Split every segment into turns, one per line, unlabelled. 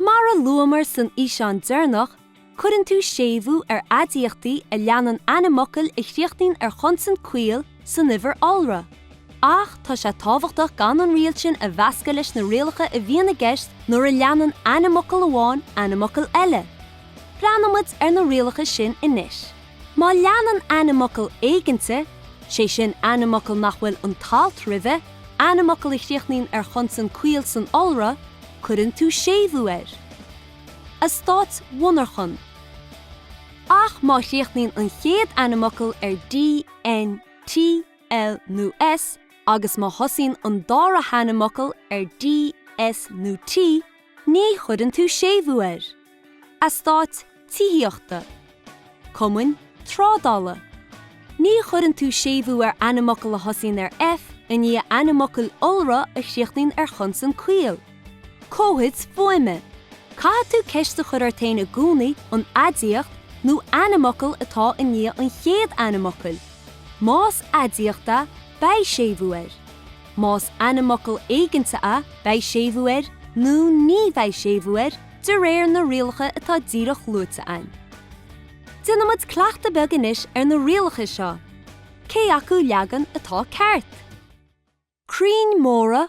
Mar a luamar san fhíseán deireanach, cuireann tú séimhiú ar aidiachtaí a leanann ainmfhocail a chríochnaíonn ar chonsan caol, san uimhir iolra, ach tá sé tábhachtach gan an riail sin a mheascadh leis na rialacha a bhíonn i gceist nuair a leanann ainmfhocal amháin ainmfhocal eile. Breathnóidh muid ar na rialacha sin anois. Má leanann ainmfhocal éiginnte, sé sin ainmfhocal nach bhfuil an t-alt roimhe, ainmfhocal a chríochnaíonn ar chonsan caol san iolra, cuireann tú séimhiú air. eastáit mhonarchan. Ach má chríochnaíonn an chéad ainmfhocal ar D, N, T, L nó S agus má thosaíonn an dara hainmfhocal ar D, S nó T ní chuireann tú séimhiú air. eastáit tithíochta, cumainn trádála. Ní chuireann tú séimhiú ar ainmfhocal a thosaíonn ar F i ndiaidh ainmfhocail iolra a chríochnaíonn ar chonsan caol. Comhaid fuaime, Caithfidh tú ceist a chur ort féin i gcónaí an aidiacht nó ainmfhocal atá i ndiaidh an chéad ainmfhocail. Más aidiacht é, beidh séimhiú air. Más ainmfhocal éiginnte é, beidh séimhiú air nó ní bheidh séimhiú air de réir na rialacha atá díreach luaite againn. Déanfaidh muid cleachtadh beag anois ar na rialacha seo, cé acu leagan atá ceart? Crainn móra,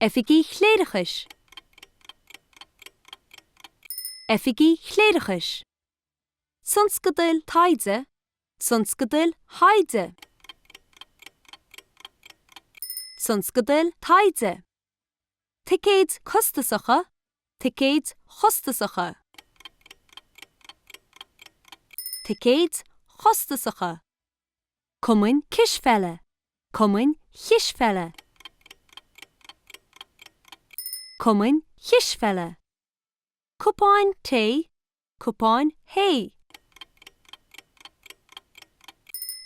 Oifigigh Chléireachais Oifigigh Chléireachais Tionscadail Taighde Tionscadail Thaighde Tionscadail Taighde Ticéid Costasacha Ticéid Chostasacha Ticéid Chostasacha. cumainn cispheile, cumainn chispheile, cumainn chispheile, cupáin tae, cupáin thae,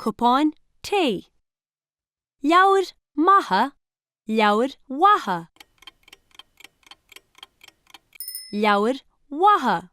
cupáin tae, leabhair maithe, leabhair mhaithe, leabhair mhaithe.